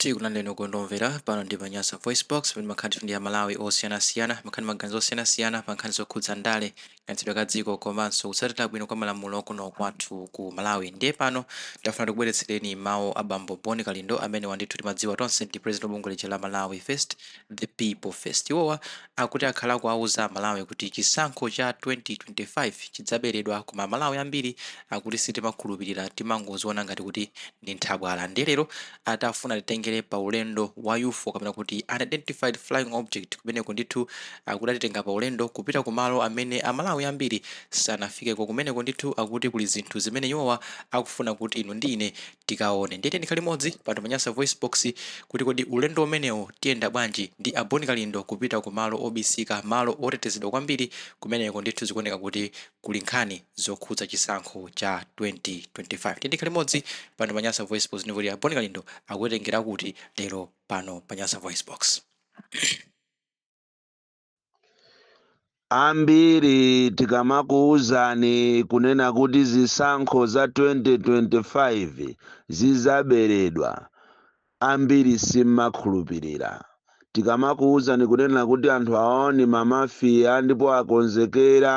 Tikulandireni okondwa omvera, pano ndi pa Nyasa VoiceBox, pamene timakhala ndithu ndi Amalawi osiyanasiyana, timakhala ndi maganizo osiyanasiyana pa nkhani zokhudza ndale, kayendetsedwe ka dziko komanso kutsatira bwino kwa malamulo kuno kwathu ku Malawi. Ndiye pano tafuna tikubweretsereni mawu a bambo Bon Kalindo, amenewa ndithu timadziwa tonse ndi president wa bungwe lija la Malawi First, The People First. Iwowa akuti akhala akuwauza Amalawi kuti chisankho cha 2025 chidzaberedwa, koma Amalawi ambiri akuti sitimakhulupirira, timangoziona ngati kuti ndi nthabwala ndiye lero tafuna atitengere pa ulendo wa ufo kapena kuti unidentified flying object kumeneko ndithu akuti atitenga pa ulendo kupita ku malo amene amalawi ambiri sanafikeko kumeneko ndithu akuti kuli zinthu zimene iwowa akufuna kuti inu ndi ine tikaone ndiye tiyeni tikhale limodzi pano pa nyasa voice box kuti kodi ulendo umenewo tiyenda bwanji ndi a bon kalindo kupita ku malo obisika malo otetezedwa kwambiri kumeneko ndithu zikuoneka kuti kuli nkhani zokhudza chisankho cha 2025 tiyeni tikhale limodzi pano pa nyasa voicebox ndipo tione a bon kalindo akutitengera kuti lero pano pa nyasa voicebox Ambiri tikamakuwuzani kunena kuti zisankho za 2025 zizaberedwa, Ambiri simmakhulupirira tikamakuuzani kunena kuti anthu awawa ni ma mafia ndipo akonzekera,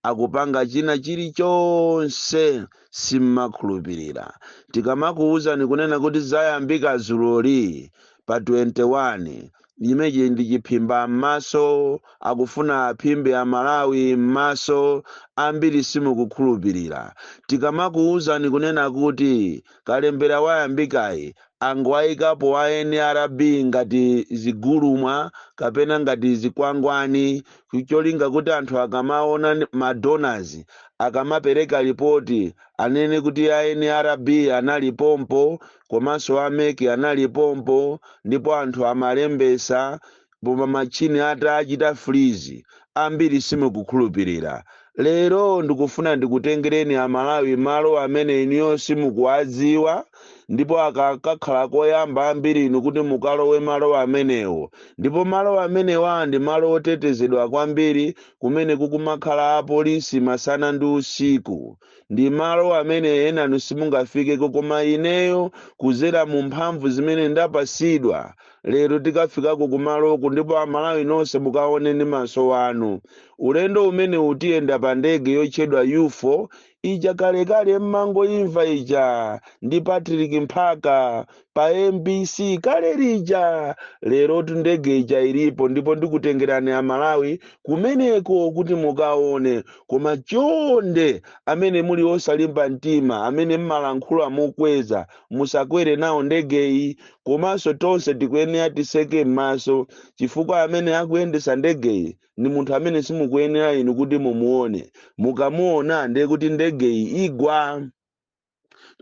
akupanga china chiri chonse simmakhulupirira tikamakuuzani kunena kuti zayambika zuloli pa 21 zimenezi ndi chiphimba m'maso akufuna aphimbe amalawi m'maso ambiri simukukhulupilira tikamakuuzani kunena kuti kalembera wayambikayi angowaikapo a nrb ngati zigulumwa kapena ngati zikwangwani cholinga kuti anthu akamaona n- ma donors akamapereka lipoti anene kuti a nrb anali pompo komanso a mec anali pompo ndipo anthu amalembesa pomwe matchini atachita freeze ambiri simukukhulupilira lero ndikufuna ndikutengereni amalawi malo amene inuyo simukuwadziwa ndipo aka kakhala koyamba ambiri inu kuti mukalowe malo amenewo ndipo malo amenewa ndi malo otetezedwa kwambiri kumene kukumakhala apolisi masana ndi usiku ndi malo amene enanu simungafikeko koma ineyo kuzera mu mphamvu zimene ndapasidwa lero tikafikako kumaloku ndipo amalawi nonse mukaone ndi maso anu ulendo umenewu tiyenda pa ndege yotchedwa ufo ija kalekale mmangoimva ija ndi patrick mphaka pa mbc kale lija lerotu ndege ija ilipo ndipo ndikutengerani amalawi kumeneko kuti mukaone koma chonde amene muli osalimba mtima amene mmalankhula mokweza musakwere nawo ndegeyi komanso tonse tikuyenera tiseke m'maso chifukwa amene akuyendesa ndegeyi ndi munthu amene simukuyenera inu kuti mumuone mukamuona ndiye kuti ndegeyi igwa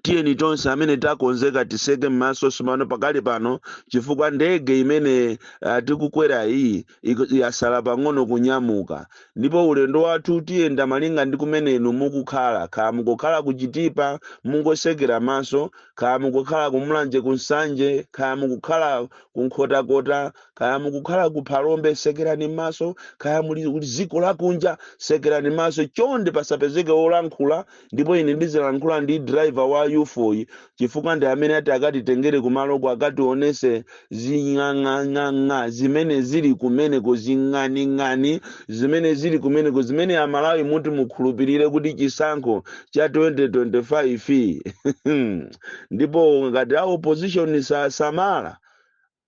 Tiyeni tonse amene takonzeka tiseke m'maso sopano pakali pano chifukwa ndege imene uh, tikukwera iyi yasala pang'ono kunyamuka, ndipo ulendo wathu tiyenda malinga ndi kumene inu mukukhala. Kaya mukukhala ku Chitipa, mungosekera maso. Kaya mukukhala ku Mulanje, ku Nsanje, kaya mukukhala ku Nkhotakota, kaya mukukhala ku Phalombe, sekerani maso. Kaya muli dziko lakunja, sekerani maso. Chonde pasapezeke wolankhula ndipo ine ndizilankhula ndi driver wa UFO-yi chifukwa ndi amene ati akatitengere kumaloko akationese zing'ang'ang'ang'a zimene zili kumeneko zing'aning'ani zimene zili kumeneko zimene amalawi muti mukhulupirire kuti chisankho cha 2025 ndipo ngati a opposition sasamala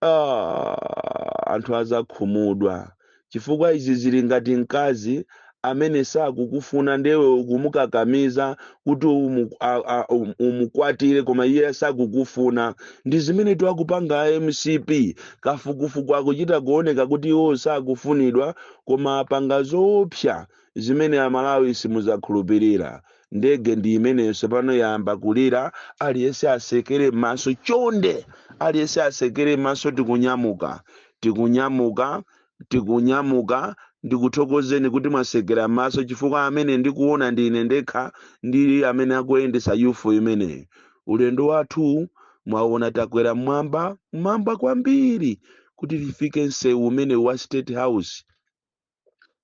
Ah, anthu azakhumudwa chifukwa izi zili ngati mkazi amene sakukufuna ndewe ukumukakamiza kuti umu, a, a, um, umukwatire koma iye sakukufuna ndi zimene tu akupanga a mcp kafukufuku akuchita kuoneka kuti iwo sakufunidwa koma apanga zoopsa zimene amalawi simuzakhulupilira ndege ndi imeneyo sopano yayamba kulira aliyese asekere m'maso chonde aliyese asekere m'maso tikunyamuka tikunyamuka tikunyamuka ndikuthokozeni kuti mwasekera m'maso chifukwa amene ndikuona ndi ine ndekha ndi amene akuyendesa UFO imeneyi ulendo wathu mwaona takwera mmwamba mmwamba kwambiri kuti tifike msewu umene wa state house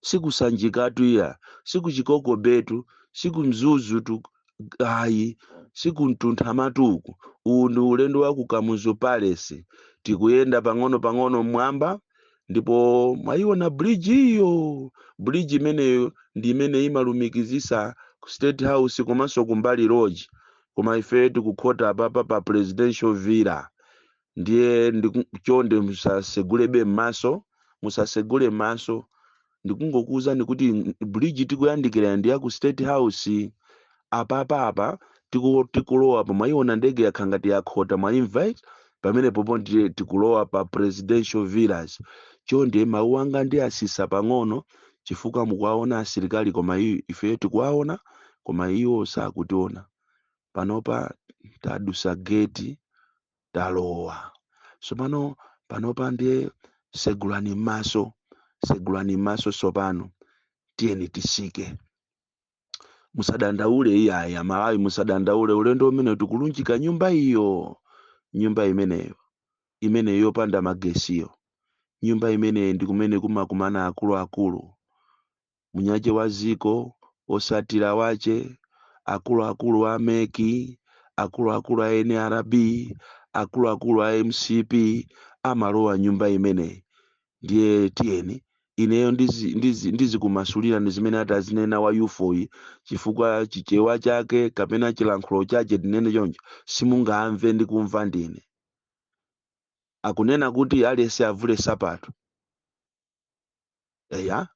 sikusanjikatu iya sikuchikoko bay tu sikumzuzu tu ayi sikumtunthamatu uku uwu ndi ulendo wa ku kamuzu palace tikuyenda pang'ono pang'ono mmwamba ndipo mwayiona bridge iyo bridge imeneyo ndi imene imalumikizisa ku state house komanso Kumbali lodge koma ife tikukhota apapa pa presidential villa ndiye ndiku- chonde musasegulebe m'maso musasegule m'maso ndikungokuwuzani kuti bridge tikuyandikira ndi ya ku state house apapa apa tiku- tikulowa pa mwayiona ndege yakhala ngati yakhota mwayimva eti pamene popo ndiye tikulowa pa presidential villas chonde mawu anga ndiwatsitsa pang'ono chifukwa mukuwaona asilikali koma i- ifeyo tikuwaona koma iwo sakutiona panopa tadusa geti talowa tsopano panopa ndiye segulani m'maso segulani m'maso tsopano tiyeni titsike musadandaule iyayi amalawi musadandaule ulendo umenewu tikulunjika nyumba iyo nyumba imeneyo imene yopanda magesiyo nyumba imeneyo ndi kumene kumakumana akuluakulu mwini wake wa dziko otsatira ake akuluakulu a meki akuluakulu a nrb akuluakulu a mcp amalowa nyumba imeneyi ndiye tiyeni ineyo ndizi- ndizi- ndizikumasulira ndi zimene atazinena wa ufoyi chifukwa chichewa chake kapena chilankhulo chake tinene choncho simungamve ndi kumva ndine akunena kuti aliyense avule nsapato eya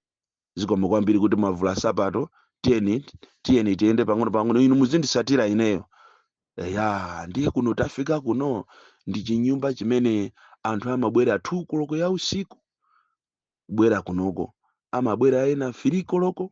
zikomo kwambiri kuti mwavula nsapato tiyeni tiyeni tiyende pang'ono pang'ono inu muzinditsatira ineyo eya ndiye kuno tafika kuno ndi chinyumba chimene anthu amabwera 2 koloko ya usiku kubwera kunoko amabwera ena 3 koloko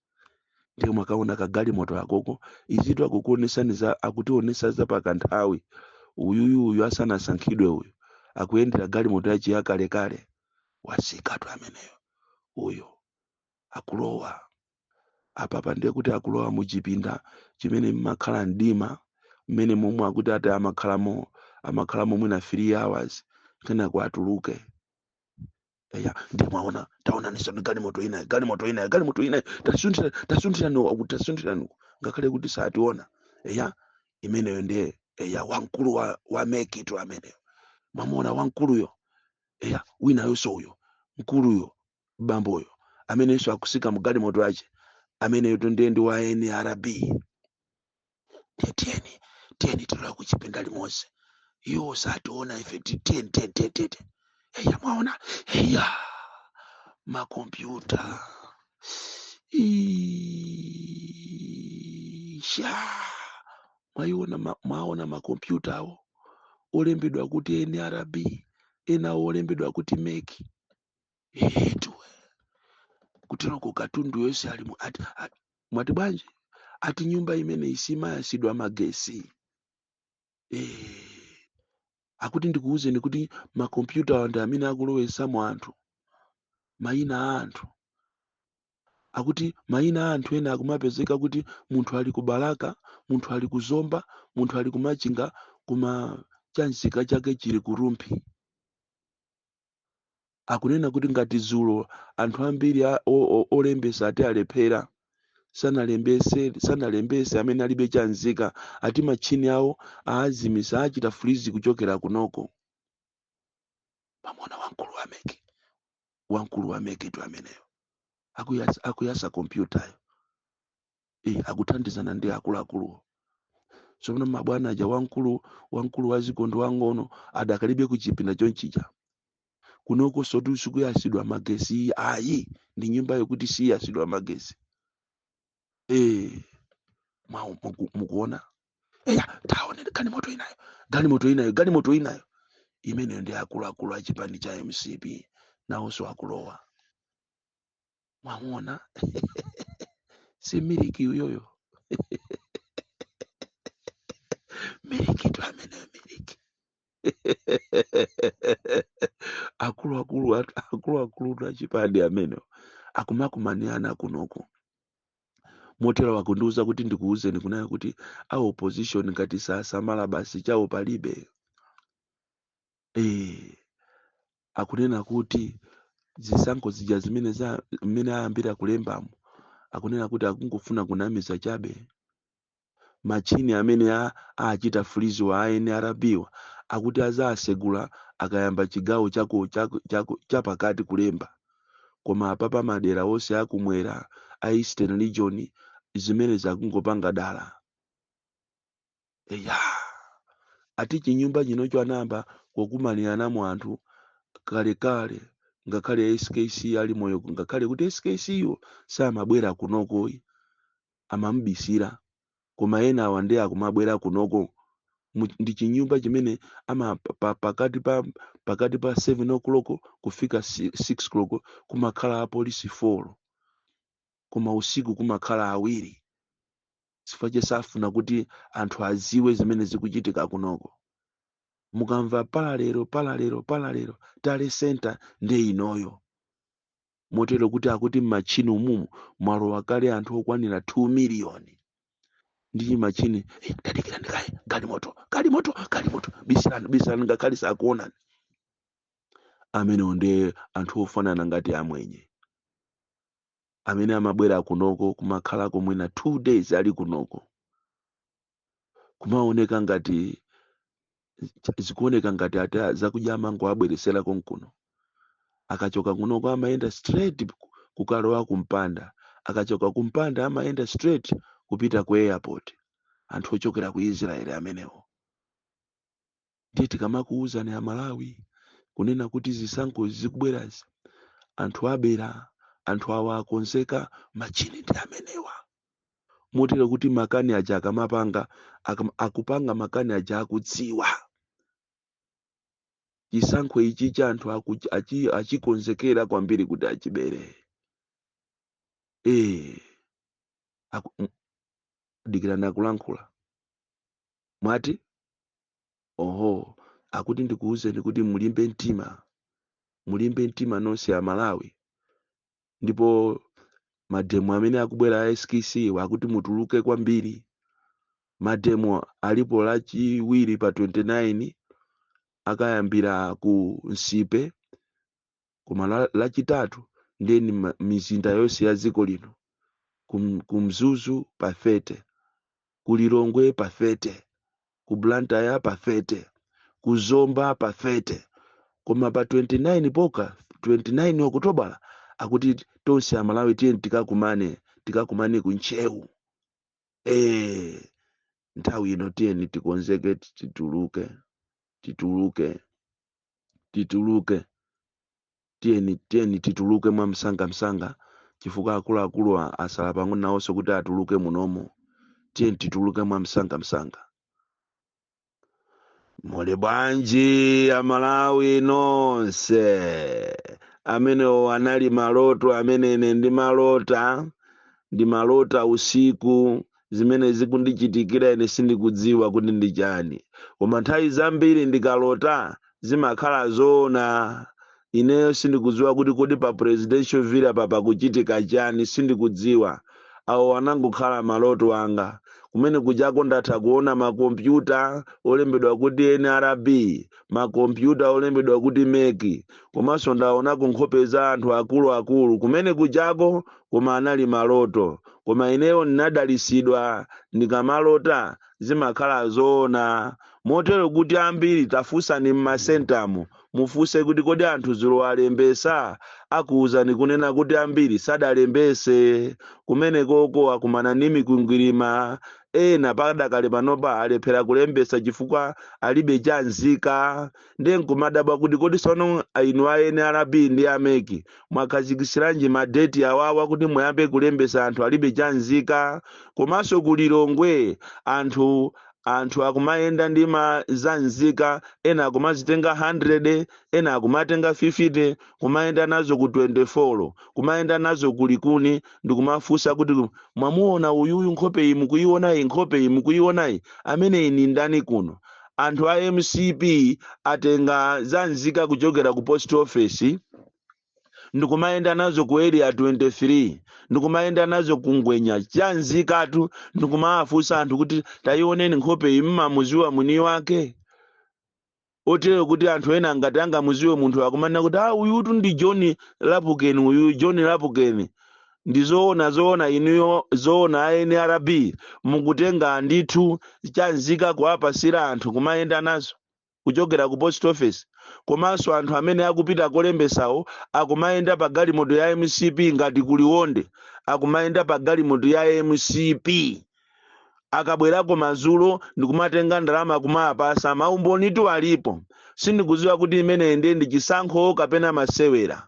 ndiye mwakaona kagalimoto akoko izitu akukuonetsani za akutionetsa za pakanthawi uyuyu uyu asanasankhidwe uyu akuyendera galimoto yachi yakalekale watsikatu ameneyo uyu akulowa apapa ndiye kuti akulowa mu chipinda chimene mmakhala mdima mmene momwe akuti ati amakhalamo amakhalamo mwina 3 hours kenako atuluke eya ndiye mwaona taonaninsoni galimoto inayi galimoto inayi galimoto inayo tasunthira tasunthiraniwo akuti tasunthiraniwo ngakhale kuti sationa eya imeneyo ndiye eya wamkulu wa, wa mekitu ameneyo mwamuona wamkuluyo eya winayonso uyo mkuluyo bamboyo ameneyonso akutsika mu galimoto yake ameneyo ndiye ndi wa nrb Ndiye tiyeni tiyeni tilowa kuchipinda limodzi iwo sationa ife ti- tiyeni tiyeni tiyeni tiyeni eya mwaona eya makompyuta Ii, sha mwaiona ma- mwaona makompyuta awo olembedwa kuti nrb enawo olembedwa kuti meki etu kuteroko katundu yonse ali mu- ati- a- mwati bwanji ati nyumba imeneyi simayatsidwa magesi Eh, akuti ndikuwuzeni kuti makompyuta awa ndi amene akulowetsamo anthu mayina a anthu akuti mayina a anthu ena akumapezeka kuti munthu ali ku balaka munthu ali ku zomba munthu ali ku machinga koma chanzika chake chili ku rumphi akunena kuti ngati dzulo anthu ambiri a- o- o- olembesa ati alephera sanalembese sanalembese amene alibe chanzika ati matchini awo aazimisa achita freeze kuchokera kunoko pamwamuona wamkulu wameki wamkulu wameki tu ameneyo akuyasa, akuyasa kompyutayo e, akuthandizana ndi akuluakuluwo tsopano mabwana aja wamkulu wamkulu wadziko ndi wang'ono adakalibe kuchipinda chomwechija kunoko soti sikuyasidwa magesi ayi ndi nyumba yokuti siyasidwa magesi e, mwa- muku- mukuona eya taone galimoto inayo galimoto inayo galimoto inayo imeneyo ndi akuluakulu a chipani cha mcp nawonso akulowa mwamuona si miliki uyoyo miliki tu ameneyo miliki akuluakulu atu- akuluakulu tu achipani amenewo akumakumaniana kunoko motero akundiuza kuti ndikuuzeni kunena kuti a opposition ngati sasamala basi chawo palibe eh akunena kuti zisankho zija zimene za mmene ayambira kulembamo akunena kuti akungofuna kunamiza chabe machini amene a- achita freeze-wa a nrb-wa akuti azasegula akayamba chigawo chako chako chako chapakati kulemba koma apapa madera onse akumwera a eastern region zimene zakungopanga dala eya ati chinyumba chinocho anayamba kukumaniranamo anthu kalekale ngakhale skc ali moyo ngakhale kuti skc yo samabwera kunoko amamubisira koma ena awa ndi akumabwera kunoko Mu- ndi chinyumba chimene ama pa, pa, pakati pa pakati pa 7 o'clock kufika 6 o'clock kumakhala apolisi 4 koma usiku kumakhala awiri chifukwa che safuna kuti anthu aziwe zimene zikuchitika kunoko mukamva palalero palalero palalero tale center ndi inoyo motero kuti akuti m'matchini umumu mwalowa kale anthu okwanira 2 miliyoni ndi chimachini "Eh, tadikirani kaye galimoto galimoto galimoto bisirani bisirani ngakhale sakuonani amenewo ndi anthu ofanana ngati amwenye amene amabwera kunoko kumakhalako mwina two days ali kunoko kumaoneka ngati zikuoneka ngati ati a- zakudya amangoabweresera konkuno akachoka kunoko amayenda straight ku- kukalowa kumpanda akachoka kumpanda amayenda straight kupita ku airport anthu ochokera ku israeli amenewo Ndiye tikamakuuzani a Malawi kunena kuti zisankho izi zikubwerazi anthu abera, anthu awa akonzeka, machini ndi amenewa. Motero kuti makani aja akamapanga, akam, akupanga makani aja akudziwa. Chisankho ichi cha anthu aku, achi, achikonzekera kwambiri kuti achibere. Eh, aku, m- dikirani akulankhula. Mwati? Oho, akuti ndikuwuzeni kuti mulimbe mtima, mulimbe mtima nonse a Malawi. Ndipo mademo amene akubwera a skc wa akuti mutuluke kwambiri. Mademo alipo lachiwiri pa 29 akayambira ku Nsipe koma la, lachitatu ndiye ni ma- mizinda yonse ya dziko lino ku, M- ku mzuzu pa 30 ku lilongwe pa 30 ku blantyre pa 30 ku zomba pa 30 koma pa 29 poka 29 okutobala akuti tonse amalawi tiyeni tikakumane tikakumane ku ntcheu eh nthawi ino tiyeni tikonzeke tituluke tituluke tituluke, tiyeni, tiyeni tituluke mwamsanga msanga, chifukwa akuluakuluwa asala pang'ono nawonso kuti atuluke munomo. Tiyeni tituluke mwamsanga msanga. Muli bwanji Amalawi nonse? Amenewo anali maloto amene ine ndimalota, ndimalota usiku zimene zikundichitikira ine sindikudziwa kuti ndi chani koma nthawi zambiri ndikalota zimakhala zoona ineyo sindikudziwa kuti kodi pa presidential villa pa pakuchitika chani sindikudziwa awo anangokhala maloto anga kumene kujako ndatha kuona makompyuta olembedwa kuti nrb makompyuta olembedwa kuti meki komanso ndaonako nkhope za anthu akuluakulu kumene kujako koma anali maloto koma ineyo ndinadalitsidwa ndikamalota zimakhala zoona motero kuti ambiri tafunsani m'masentamo mufunse kuti kodi anthu dzulo alembesa akuwuzani kunena kuti ambiri sadalembese kumenekoko akumana ndi mikwingwirima ena padakali panopa alephera kulembesa chifukwa alibe chanzika ndiye nkumadabwa kuti kodi sono inu a nrb ndi a meki mwakhazikisiranji madeti awawa kuti muyambe kulembesa anthu alibe chanzika komanso ku lilongwe anthu anthu akumayenda ndi ma zanzika ena akumazitenga 100 ena akumatenga 50 kumayenda nazo ku 24 kumayenda nazo ku likuni ndikumafunsa kuti mwamuona uyuyu nkhope iyi mukuiona iyi nkhope iyi mukuiona iyi amene uyu ndani kuno anthu a mcp atenga zanzika kuchokera ku post office ndikumayenda nazo ku area 23 ndikumayenda nazo ku ngwenya chanzikatu ndikumawafunsa anthu kuti tayioneni nkhope iyi mmamuziwa mwini wake otero kuti anthu ena ngati angamuziwe munthu akumanena kuti ah uyutu ndi john lapukeni uyu john lapukeni ndi zoona zoona inuyo zoona a nrb mukutenga ndithu chanzika kuwapasira anthu kumayenda nazo kuchokera ku post office komanso anthu amene akupita kolembesawo akumayenda pa galimoto ya mcp ngati ku Liwonde akumayenda pa galimoto ya mcp akabwerako madzulo ndikumatenga ndalama kumawapasa maumbonitu alipo sindikudziwa kuti imeneyi ndiye ndi chisankho kapena masewera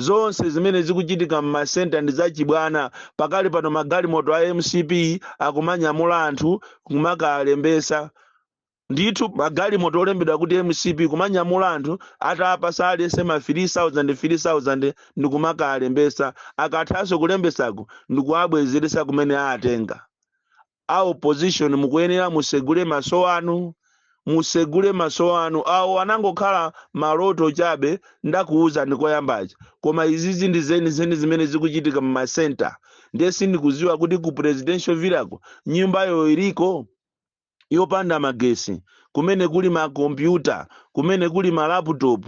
zonse zimene zikuchitika m'masenta ndi zachibwana pakali pano magalimoto a mcp akumanyamula anthu kumakalembesa ndithu magalimoto olembedwa kuti mcp kumanyamula anthu atapasa aliyese ma 3000 3000 ndikumakalembesa akathanso kulembesako ndikuwabwezeresa kumene awatenga A opposition mukuyenera musegule maso anu, musegule maso anu. Awu anangokhala maloto chabe ndakuwuzani koyamba aja. Koma izizi ndi zenizeni zimene zikuchitika mu ma center. Ndiye sindikudziwa kuti ku presidential villa ko nyumbayo iliko yopanda magesi, kumene kuli ma computer, kumene kuli ma laptop.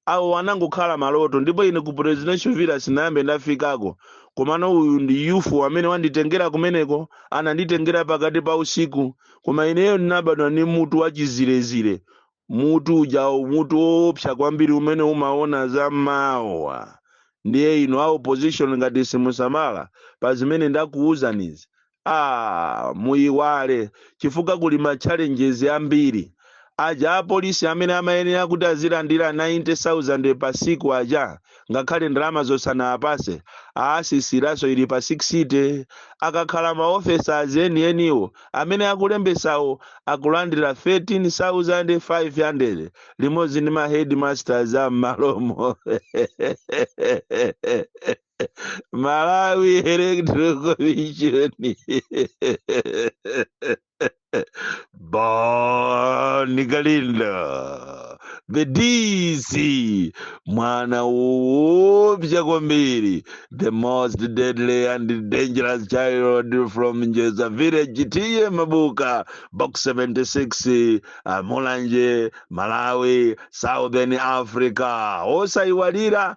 Awu anangokhala maloto, ndipo ine ku Presidential Villa sinayambe ndafikako. Komano uyu ndi Ufo amene wanditengera kumeneko, ananditengera pakati pa usiku. Koma ineyo ndinabadwa ndi mutu wa chizirezire, mutu uja, mutu woopsa kwambiri umene umaona za mawa. Ndiye inu a opposition ngati simusamala pa zimene ndakuuzanizi, ah muyiwale chifukwa kuli ma challenges ambiri aja apolisi amene amayenera kuti azilandira 90000 pa siku aja ngakhale ndalama zo sanawapase awatsitsiranso ili pa 60 akakhala ma officers enieniwo amene akulembesawo akulandira 13500 limodzi ndi ma headmasters a mmalomo Malawi Electoral Commission Bon Kalindo the DC mwana woopsa kwambiri the most deadly and dangerous child from Njedza village T/A Mabuka box 76 a Mulanje Malawi Southern Africa osaiwala